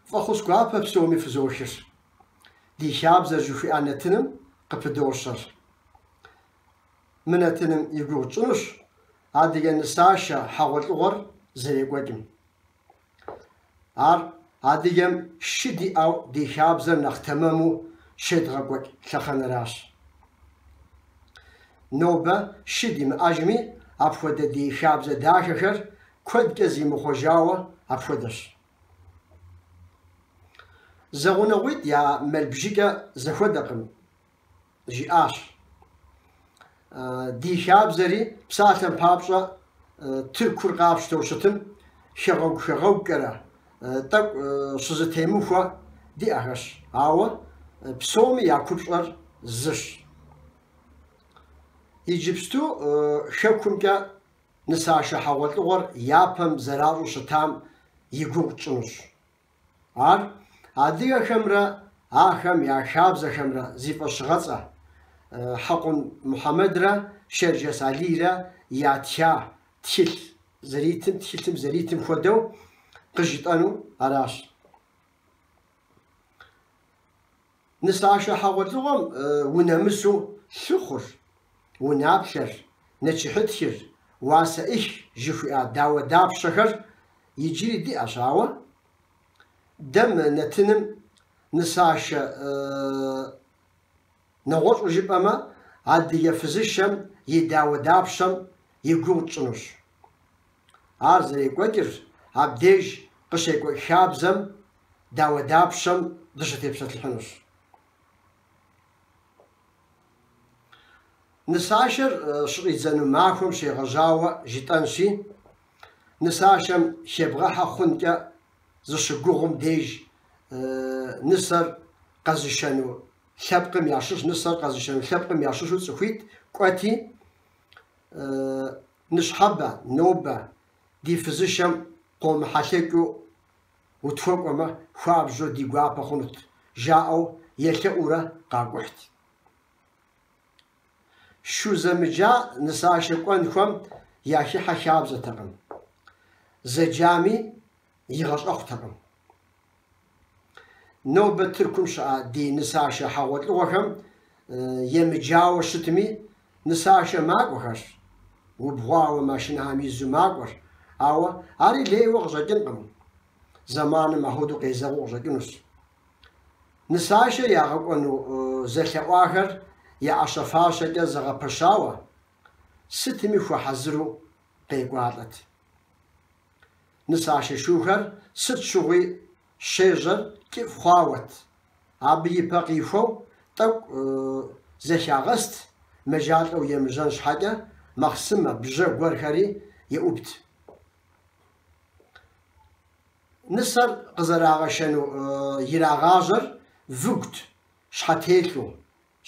Фӏэхъус гуапэ псоми фызохыр. Ди хабзэр жыхуиӏэ нэтыным къыпыдощэр. Мы нэтыным и гугъу тщӏынущ адыгэ нысашэ хьэгъуэлӏыгъуэр зэрекӏуэкӏым. Ар адыгэм шы диӏэу ди хабзэр нэхъ тэмэму щедгъэкӏуэкӏ лъэхъэнэращ. Нобэ шы димыӏэжми, апхуэдэ ди хабзэ дахэхэр куэдкӏэ зимыхъуэжауэ апхуэдэщ. Зэгъунэгъуитӏ я мэл бжыкӏэ зэхуэдэкъым, жиӏащ. Ди хабзэри псалъэм папщӏэ Тыркур къапщтэу щытым хэгъэгу-хэгъэгукӏэрэ, тӏэкӏу щызытемыхуэ диӏэхэщ, ауэ псоми я купщӏэр зыщ. Иджыпсту Хэкумкӏэ нысашэ хьэгъуэлӏыгъуэр япэм зэращӏу щытам и гугъу тщӏынущ. Ар адыгэхэмрэ ахэм я хабзэхэмрэ зи фӏэщыгъэцӏэ, Хьэкъун Мухьэмэдрэ Шэрджэс Алийрэ ятха тхылъ зэритым, тхылъым зэритым хуэдэу къыжытӏэну аращ. Нысашэ хьэгъуэлӏыгъуэм унэмысу лъыхъур, унаплъэр, нэчыхьытхыр, уасэӏых жыхуиӏа дауэдапщэхэр иджыри диӏэщ, ауэ дэ мы нэтыным нысашэ нэгъуэщӏу жыпӏэмэ, адыгэ фызышэм и дауэдапщэм и гугъу тщӏынущ. Ар зэрекӏуэкӏыр, абдеж къыщекӏуэкӏ хабзэм дауэдапщэм дыщытепсэлъыхьынущ. Нысашэр щыщӏидзэну махуэм щегъэжьауэ жытӏэнщи, нысашэм хебгъэхьэ хъункӏэ зыщыгугъым деж нысэр къэзышэну лъэпкъым ящыщ, нысэр къэзышэну лъэпкъым ящыщу цӏыхуитӏ кӏуэти, ныщхьэбэ, нобэ, ди фызышэм къомыхьэлъэкӏыу утхуэкӏуэмэ, хуабжьу ди гуапэ хъунут, жаӏэу елъэӏуурэ къакӏухьт. Шу зэмыджа нысашэ кӏуэнухэм яхыхьэ хабзэтэкъым, зэджами игъэщӏэхъутэкъым. Нобэ Тыркум щыӏа ди нысашэ хьэгъуэлӏыгъуэхэм емыджауэ щытми, нысашэ макӏуэхэр, убгъуауэ машинэхэм изу макӏуэр, ауэ ари лейуэ къыщӏэкӏынкъым, зэманым апхуэдэу къезэгъыу къыщӏэкӏынущ. Нысашэ ягъэкӏуэну зэлъэӏуахэр я ӏэщэ-фащэкӏэ зэгъэпэщауэ, сытми хуэхьэзыру къекӏуалӏэт. Нысашэ шухэр сыт щыгъуи щежьэр кӏыфӏ хъуауэт. Абы и пэ къихуэу тӏэкӏу зэхягъэст, мэжалӏэу емыжьэн щхьэкӏэ махъсымэ бжьэ гуэрхэри еӏубт. Нысэр къызэрагъэшэну ирагъажьэр выгут, щхьэтелъу,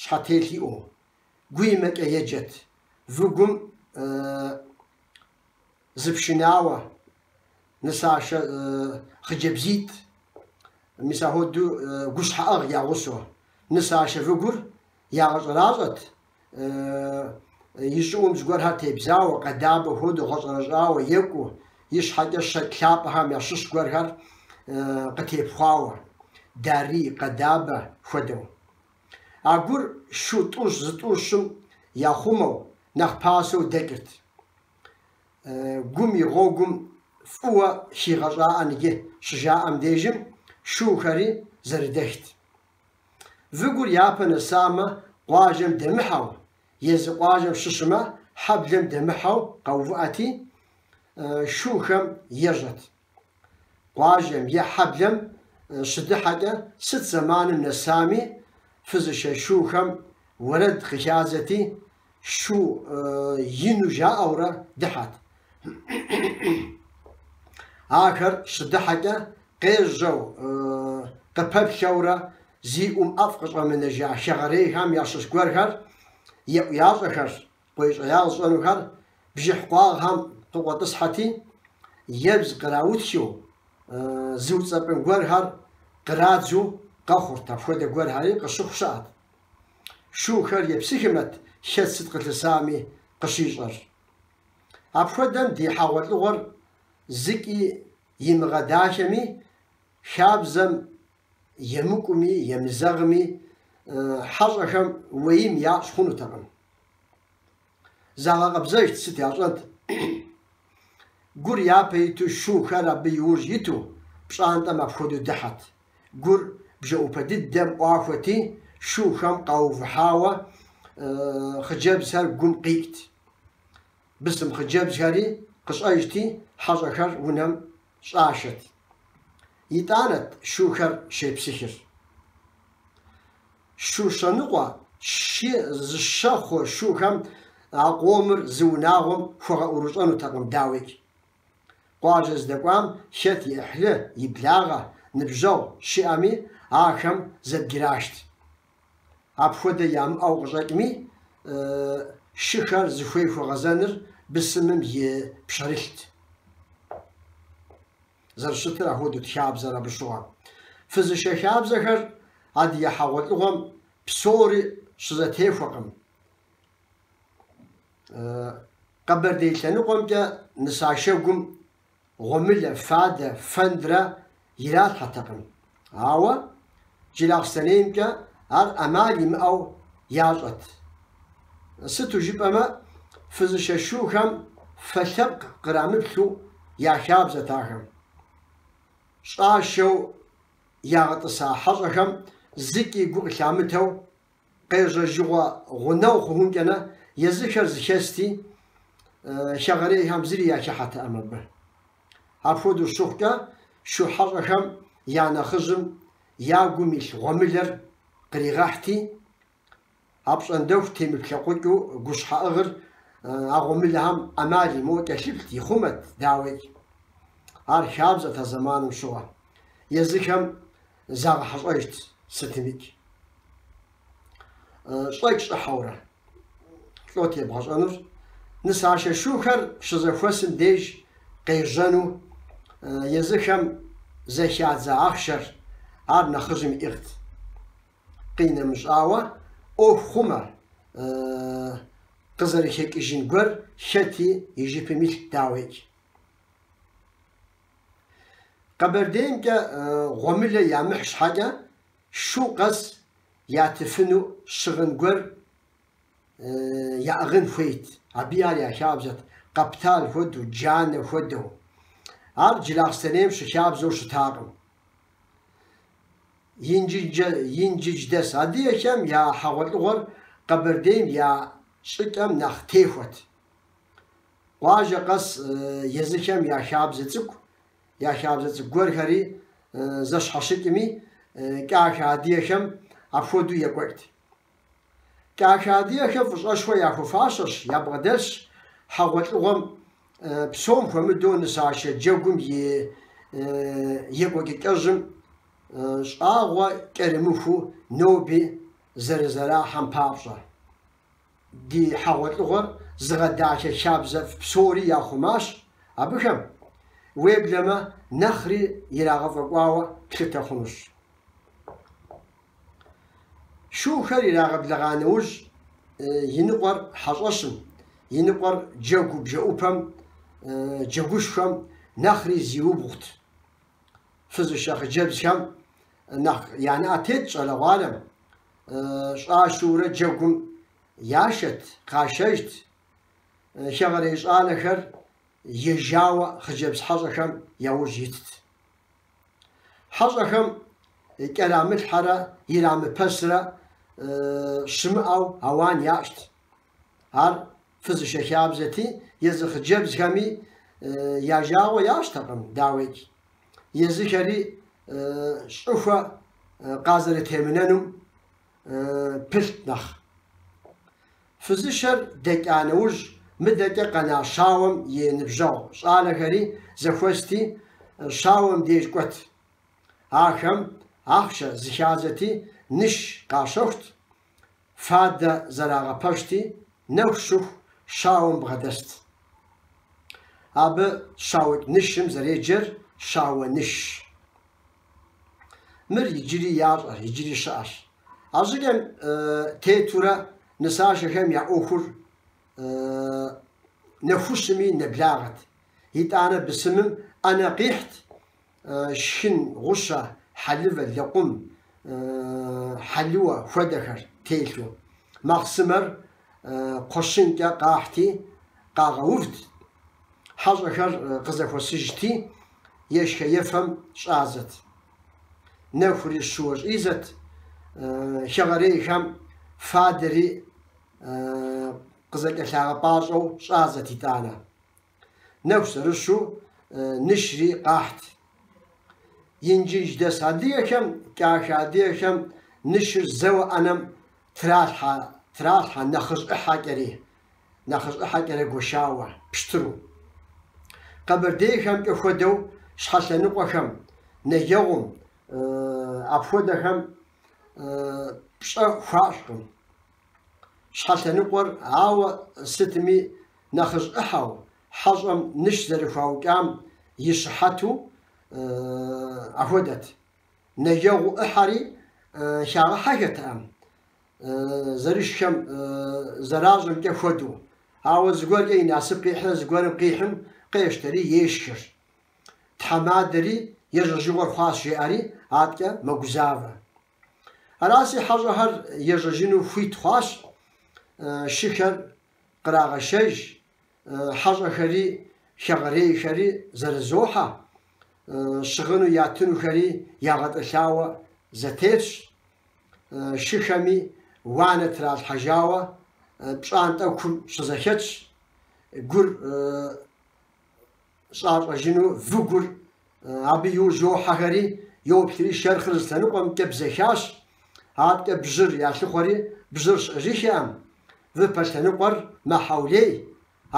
щхьэтелъ иӏэу, гуимэкӏэ еджэт. Выгум Зы пшынауэ, нысашэ хъыджэбзитӏ, мис ахуэдэу гущхьэӏыгъ я гъусэу, нысашэ выгур ягъэщӏэращӏэт, и щӏыӏум зыгуэрхэр тебзауэ, къэдабэ хуэдэу гъэщӏэрэщӏауэ екӏуу, и щхьэкӏэ щэкӏ лъапӏэхэм ящыщ гуэрхэр къытепхъуауэ, дарий, къэдабэ хуэдэу. А гур шу тӏущ, зытӏущым яхъумэу, нэхъ пасэу дэкӏырт. гум и гъуэгум фӏыуэ хигъэщӏагъэн иджы щыжаӏэм дежым шухэри зэрыдэхт. Выгур япэ нэсамэ, къуажэм дэмыхьэу, езы къуажэм щыщымэ, хьэблэм дэмыхьэу къэувыӏэти, шухэм ежьэт. Къуажэм е хьэблэм щыдыхьэкӏэ сыт зэманым нэсами, фызышэ шухэм уэрэд къыхязэти, шу ину жаӏэурэ дыхьэт. Ахэр щыдыхьэкӏэ къежьэу, къыпэплъэурэ зи ӏум ӏэфӏ къыщӏэмынэжа хэгъэрейхэм ящыщ гуэрхэр еӏуящӏэхэр, Къуейщӏеягъ зыщӏэнухэр бжыхь къуагъхэм къыкъуэтӏысхьэти, ебз къраутхыу, зыуцӏэпӏын гуэрхэр кърадзу къэхъурт, апхуэдэ гуэрхэри къыщыхъу щыӏэт. Шухэр епсыхымэт хэт сыт къылъысами къыщищӏэр. Апхуэдэм ди хьэгъуэлӏыгъуэр зыкӏи имыгъэдахэми, хабзэм емыкӏуми, емызэгъми, хьэщӏэхэм уэим ящӏ хъунутэкъым. Загъэкъэбзэжт сыт ящӏэнт. Гур япэ иту шухэр абы иужь иту, пщӏантӏэм апхуэдэу дыхьэт. Гур бжэӏупэ дыдэм ӏуахуэти, шухэм къаувыхьауэ хъыджэбзхэр гум къикӏт. Бысым хъыджэбзхэри къыщӏэжти, хьэщӏэхэр унэм щӏашэт. Итӏанэт шухэр щепсыхыр. Шу щэныкъуэ, щи, зыщэ хъу шухэм а къомыр зы унагъуэм хуэгъэӏурыщӏэнутэкъым, дауикӏ. Къуажэ здэкӏуам хэт и ӏыхьлы, и благъэ, ныбжьэгъу щиӏэми, ахэм зэбграшт. Апхуэдэ ямыӏэу къыщӏэкӏми, шыхэр зыхуей хуэгъэзэныр бысымым и пщэрылът. Зэрыщытыр апхуэдэут хабзэр абы щыгъуэ. Фызышэ хабзэхэр адыгэ хьэгъуэлӏыгъуэм псори щызэтехуэкъым. Къэбэрдей лъэныкъуэмкӏэ нысашэгум гъуэмылэ, фадэ фэндрэ иралъхьэртэкъым. Ауэ Джылахъстэнеймкӏэ ар ӏэмал имыӏэу ящӏэт. Сыту жыпӏэмэ, фызышэ шухэм фэ лъэпкъ кърамыплъу яхабзэт ахэм. Щӏашэу ягъэтӏыса хьэщӏэхэм зыкӏи гу къылъамытэу къежьэжьыгъуэ гъунэгъу хъухункӏэрэ, езыхэр зэхэсти, хэгъэрейхэм зыри яхыхьэтэкъым абы. Апхуэдэу щыхъукӏэ, шу хьэщӏэхэм я нэхъыжьым я гум илъ гъуэмылэр къригъэхьти, апщӏондэху темыплъэкъукӏыу гущхьэӏыгъыр а гъуэмылэхэм ӏэмал имыӏэу кӏэлъыплът, ихъумэт, дауикӏ. Ар хабзэт а зэманым щыгъуэ. Езыхэм Загъэхьэщӏэжт сытымикӏ. Щӏэкӏ-щӏыхьэурэ лӏот ебгъэщӏэнур, нысашэ шухэр щызэхуэсым деж къежьэну езыхэм зэхадза ахъшэр, ар нэхъыжьым иӏыгът. Къинэмыщӏауэ, ӏуэху хъумэ, къызэрыхекӏыжын гуэр хэти и жыпым илът, дауикӏ. Къэбэрдеймкӏэ гъуэмылэ ямыхь щхьэкӏэ, шу къэс ятыфыну щыгъын гуэр яӏыгъын хуейт. Абыи ар я хабзэт, къэптал хуэдэу, джанэ хуэдэу. Ар Джылахъстэнейм щыхабзэу щытакъым. Инжыдждэс адыгэхэм я хьэгъуэлӏыгъуэр Къэбэрдейм я щӏыкӏэм нэхъ техуэт. Къуажэ къэс езыхэм я хабзэ цӏыкӏу, я хабзэ цӏыкӏу гуэрхэри зэщхьэщыкӏми, кӏахэ адыгэхэм апхуэдэу екӏуэкӏт. Кӏахэ адыгэхэм фӏыщӏэшхуэ яхуэфащэщ, ябгъэдэлъщ хьэгъуэлӏыгъуэм псом хуэмыдэу нысашэ джэгум и екӏуэкӏыкӏэжьым щӏагъуэ кӏэрымыхуу ноби зэрызэрахьэм папщӏэ. Ди хьэгъуэлӏыгъуэр зыгъэдахэ хабзэфӏ псори яхъумащ абыхэм, уеблэмэ нэхъри ирагъэфӏэкӏуауэ плъытэ хъунущ. Шухэр ирагъэблэгъа нэужь, иныкъуэр хьэщӏэщым, иныкъуэр джэгу бжэӏупэм, джэгушхуэм нэхъри зиубгъут. фызышэ хъыджэбзхэм нэхъ я нэӏэ тетт щӏалэгъуалэм, щӏашурэ джэгум яшэт, къашэжт. Хэгъэрей щӏалэхэр ежьауэ хъыджэбз хьэщӏэхэм яужь итт. Хьэщӏэхэм кӏэрамылъхьэрэ ирамыпэсрэ щымыӏэу ауан ящӏт. Ар фызышэ хабзэти, езы хъыджэбзхэми я жагъуэ ящӏтэкъым, дауикӏ, езыхэри щӏыхуэ къазэрытемынэнум пылът нэхъ. Фызышэр дэкӏа нэужь, мыдэкӏэ къэна щауэм и ныбжьэгъу щӏалэхэри зэхуэсти, щауэм деж кӏуэт. Ахэм ахъшэ зыхязэти, ныш къащэхут, фадэ зэрагъэпэщти, нэху щыху щауэм бгъэдэст. Абы щаукӏ нышым зэреджэр щауэ нышщ. Мыр иджыри ящӏэр, иджыри щыӏэщ. А щӏыкӏэм тетурэ нысашэхэм я ӏуэхур нэхущыми нэблагъэт. Итӏанэ бысымым ӏэнэ къихьт шхын гъущэ, хьэлывэ, лэкъум, хьэлыуэ хуэдэхэр телъу. Махъсымэр кхъуэщынкӏэ къахьти, къагъэувт, хьэщӏэхэр къызэхуэсыжти, ешхэ-ефэм щӏазэт. Нэхури щууэ щӏизэт, хэгъэрейхэм фадэри къызэкӏэлъагъэпӏащӏэу щӏазэт итӏанэ. Нэху зэрыщу нышри къахьт. Инджыж дэс адыгэхэм, кӏахэ адыгэхэм нышыр зэуэ ӏэнэм тралъхьэ, тралъхьэ нэхъыжь ӏыхьэкӏэри, нэхъыжь ӏыхьэкӏэрэ гуэшауэ, пщтыру. Къэбэрдейхэмкӏэ хуэдэу щхьэ лъэныкъуэхэм, нэгэгъум, апхуэдэхэм пщӏэ хуащӏкъым. Щхьэ лъэныкъуэр, ауэ сытми нэхъыжь ӏыхьэу, хьэщӏэм ныш зэрыхуаукӏам и щыхьэту ахуэдэт. Нэгэгъу ӏыхьэри, хагъэхьэхэтэкъым, зэрышхэм зэращӏэмкӏэ хуэдэу. Ауэ зыгуэркӏэ и насып къихьрэ зыгуэрым къихьым къештэри, ешхыр. Тхьэмадэри ежьэжыгъуэр хъуащ, жеӏэри аткӏэ мэгузавэ. Араси хьэщӏэхэр ежьэжыну хуит хъуащ, шыхэр кърагъэшэж, хьэщӏэхэри хэгъэрейхэри зэрызохьэ, щыгъыну ятынухэри ягъэтӏылъауэ зэтелъщ, шыхэми уанэ тралъхьэжауэ пщӏантӏэ кум щызэхэтщ, гур щӏащӏэжыну выгур абы иужь йохьэхэри, йоплъри шэрхъыр зы лъэныкъуэмкӏэ бзэхащ. Адэкӏэ бжьыр ялъыхъуэри, бжьыр щыӏэжыххэӏым. Выпэ лъэныкъуэр мэхьэулей.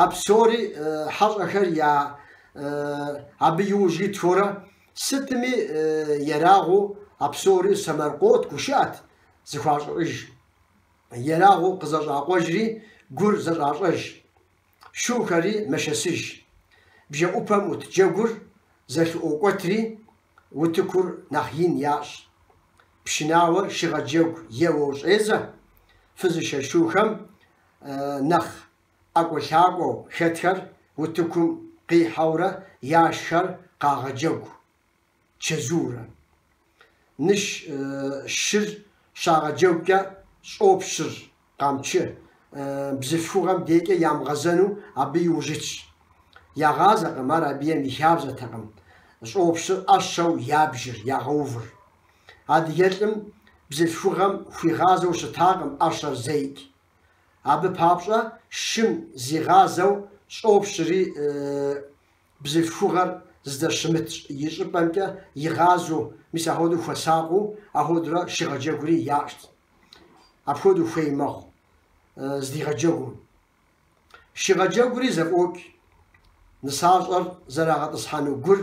А псори хьэщӏэхэр я абы иужь итхурэ, сытми ерагъыу а псори сэмэркъэут, гушыӏэт зыхуащӏэр. Ерагъыу къызэщӏакъуэжри гур зэщӏащӏэж. шухэри мэшэсыж. Бжэӏупэм ӏут джэгур зэлъыӏуокӏуэтри, утыкур нэхъ ин ящӏ. Пшынауэр шыгъэджэгу еуэу щӏедзэ, фызышэ шухэм нэхъ ӏэкӏуэлъакӏуэу хэтхэр утыкум къихьэурэ яшхэр къагъэджэгу. Чэзуурэ. Ныщ шыр щагъэджэгукӏэ щӏопщыр Къамчы бзылъхугъэм декӏэ ямыгъэзэну абы иужь итщ. Ягъазэкъым, ар адыгэм и хабзэтэкъым, щӏопщыр ӏэщэу ябжыр, ягъэувыр. Адыгэ лӏым бзылъхугъэм хуигъазэу щытакъым ӏэщэр зеикӏ. Абы папщӏэ шым зигъазэу щӏопщри Бзылъхугъэр здэщымыт щӏыпӏэмкӏэ игъазэу, мис ахуэдэу хуэсакъыу, ахуэдурэ шыгъэджэгури ящӏт. Апхуэдэу хуей мэхъу здигъэджэгум. Шыгъэджэгури зэфӏокӏ. Нысащӏэр зэрагъэтӏысхьэну гур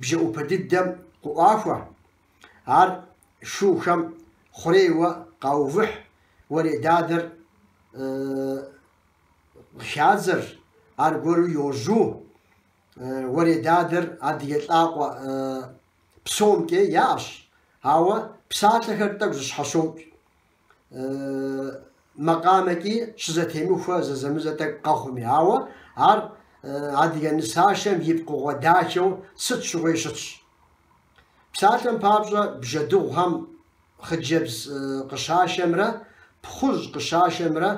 бжэӏупэ дыдэм къыӏуахуэ, ар шухэм хъурейуэ къаувыхь, уэредадэр хадзэр аргуэру йожьу, уэредадэр адыгэ лӏакъуэ псомкӏи яӏэщ, ауэ псалъэхэр тӏэкӏу зыщхьэщокӏ, макъамэкӏи щызэтемыхуэ зэзэмызэ тӏэкӏу къэхъуми, ауэ ар адыгэ нысашэм и пкъыгъуэ дахэу сыт щыгъуи щытщ. Псалъэм папщӏэ, бжьэдыгъухэм хъыджэбз къыщашэмрэ пхъужь къыщашэмрэ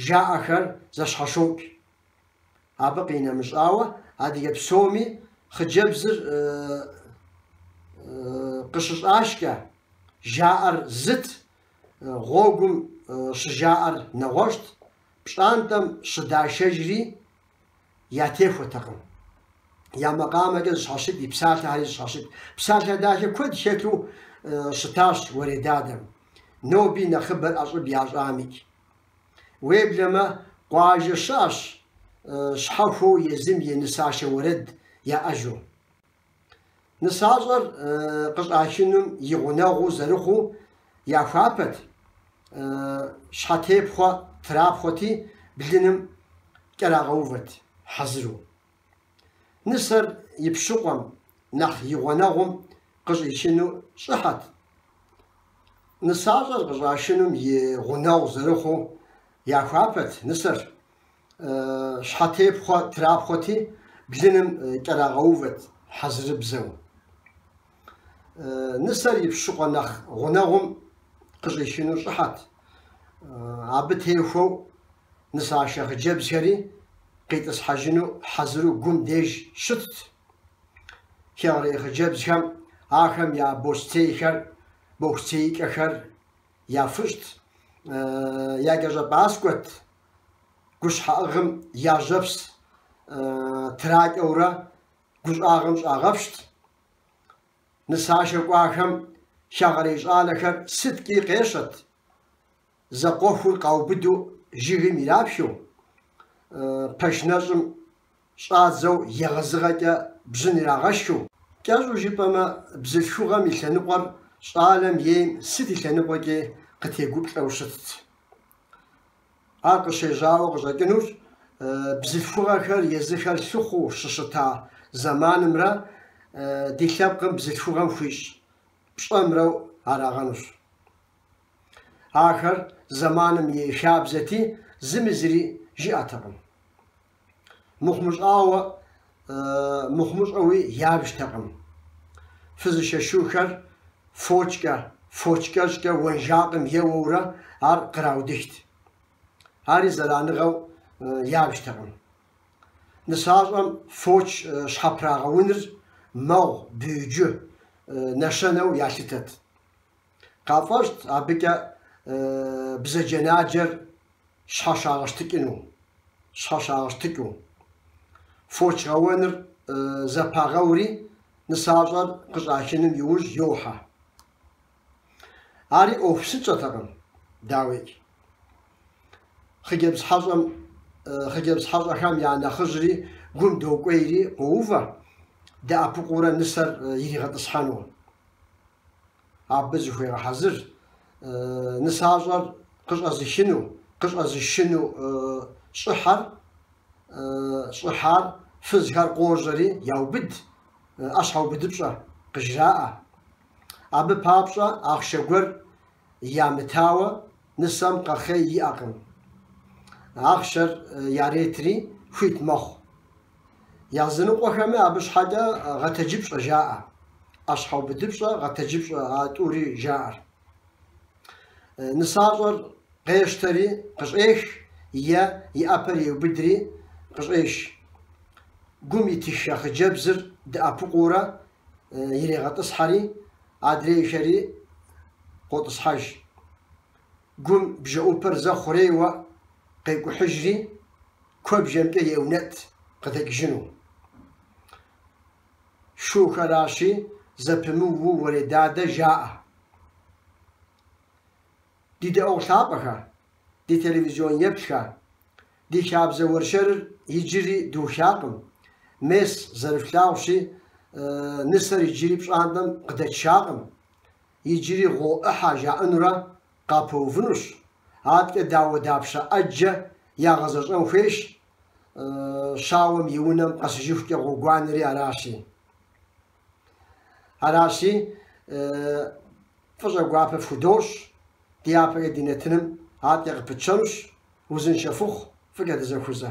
жаӏэхэр зэщхьэщокӏ. Абы къинэмыщӏауэ, адыгэ псоми хъыджэбзыр къыщыщӏашкӏэ, жаӏэр зыт, гъуэгум щыжаӏэр нэгъуэщӏт, пщӏантӏэм щыдашэжри ятехуэтэкъым. Я макъамэкӏэ зыщхьэщыкӏт и псалъэхэри зыщхьэщыкӏт. Псалъэ дахэ куэд хэлъу щытащ уэредадэм. Ноби нэхъыбэр ӏэщӏыб ящӏамикӏ. Уеблэмэ, къуажэ щыӏэщ щхьэхуэу езым и нысашэ уэрэд яӏэжу. Нысащӏэр къыщӏашынум и гъунэгъуу зэрыхъуу яхуапэт, щхьэтепхъуэ трапхъуэти, блыным кӏэрагъэувэт хьэзыру. Нысэр и пщыкъуэм нэхъ и гъунэгъум къыщӏишыну щӏыхьэт. Нысащӏэр къыщӏашынум и гъунэгъу зэрыхъуу яхуапэт нысэр. щхьэтепхъуэ трапхъуэти, блыным кӏэрагъэувэт хьэзырыбзэу. Нысэр и пщыкъуэ нэхъ гъунэгъум къыщӏишыну щӏыхьэт. Абы техуэу нысашэ хъыджэбзхэри къитӏысхьэжыну хьэзыру гум деж щытт. Хэгъэрей хъыджэбзхэм ахэм я бостейхэр, бохуцеикӏэхэр яфыщӏт. Якӏэщӏэпӏаскӏуэт гущхьэӏыгъым яжьэпс тракӏэурэ гущӏагъым щӏагъэпщт. Нысашэ кӏуахэм хэгъэрей щӏалэхэр сыткӏи къещэт, зэкъуэхур къаубыдэу жыгым ирапхыу, пэш нэщӏым щӏадзэу егъэзыгъэкӏэ бжьын ирагъэшхыу, кӏэщӏу жыпӏэмэ, бзылъхугъэм и лъэныкъуэр щӏалэм ейм сыт и лъэныкъуэкӏи къытегуплӏэу щытт. Ар къыщежьауэ къыщӏэкӏынущ бзылъхугъэхэр езыхэр лъыхъуу щыщыта зэманымрэ ди лъэпкъым бзылъхугъэм хуищӏ пщӏэмрэу арагъэнущ. Ахэр зэманым и хабзэти, зыми зыри жиӏэтэкъым. Мыхъумыщӏауэ, мыхъумыщӏэуи ябжтэкъым. Фызышэ шухэр фочкӏэ, фоч кӏэщӏкӏэ уэнжакъым еуэурэ ар къраудыхт. Ари зэраныгъэу ябжтэкъым. Нысащӏэм фоч щхьэпрагъэуныр мэгъу, бюджы, нэщэнэу ялъытэт. Къафӏэщӏт абыкӏэ бзаджэнаджэр щхьэщагъэщтыкӏыну, щхьэщагъэщтыкӏыу. Фоч гъэуэныр зэпагъэури, нысащӏэр къыщӏахыным иужь йохьэ. Ари ӏуэху псынщӏэтэкъым, дауикӏ. Хъыджэбз хьэщӏэм, хъыджэбз хьэщӏэхэм я нэхъыжьри гум докӏуейри къоувэ, дэӏэпыкъуурэ нысэр иригъэтӏысхьэну. Абы зыхуегъэхьэзыр нысащӏэр къыщӏэзыхыну, къыщӏэзышыну щӏыхьэр, щӏыхьар, фызхэр къожьэри яубыд, ӏэщхьэубыдыпщӏэ къыжраӏэ. Абы папщӏэ ахъшэ гуэр ямытауэ нысэм къэхъей иӏэкъым. Ахъшэр яретри хуит мэхъу. Языныкъуэхэмэ абы щхьэкӏэ гъэтэджыпщӏэ жаӏэ. ӏэщхьэубыдыпщӏэ, гъэтэджыпщӏэ а тӏури жаӏэр. Нысащӏэр къещтэри къыщӏех е и ӏэпэр еубыдри къыщӏеш. Гум итыхэ хъыджэбзыр дэӏэпыкъуурэ иригъэтӏысхьэри, адрейхэри къотӏысхьэж. Гум бжэӏупэр зэ хъурейуэ къекӏухьыжри, куэбжэмкӏэ еунэтӏ къыдэкӏыжыну. Шухэращи, зэпымыуу уэредадэ жаӏэ. Ди дэӏуэгъу лъапӏэхэ, ди телевизион еплъхэ! Ди хабзэ уэршэрыр иджыри духакъым, мес, зэрыфлъагъущи, нысэр иджыри пщӏантӏэм къыдэкӏакъым, иджыри гъуо ӏыхьэ жаӏэнурэ къапэувынущ, абыкӏэ дауэдапщэ ӏэджэ ягъэзэщӏэн хуейщ, щауэм и унэм къэсыжыхукӏэ гъуэгуанэри аращи. Аращи, Фӏыщӏэ гуапэ фхудощӏ, ди япэкӏэ ди нэтыным атӏэ къыпытщэнущ, узыншэ фыхъу, фӏыкӏэ дызэхузэ.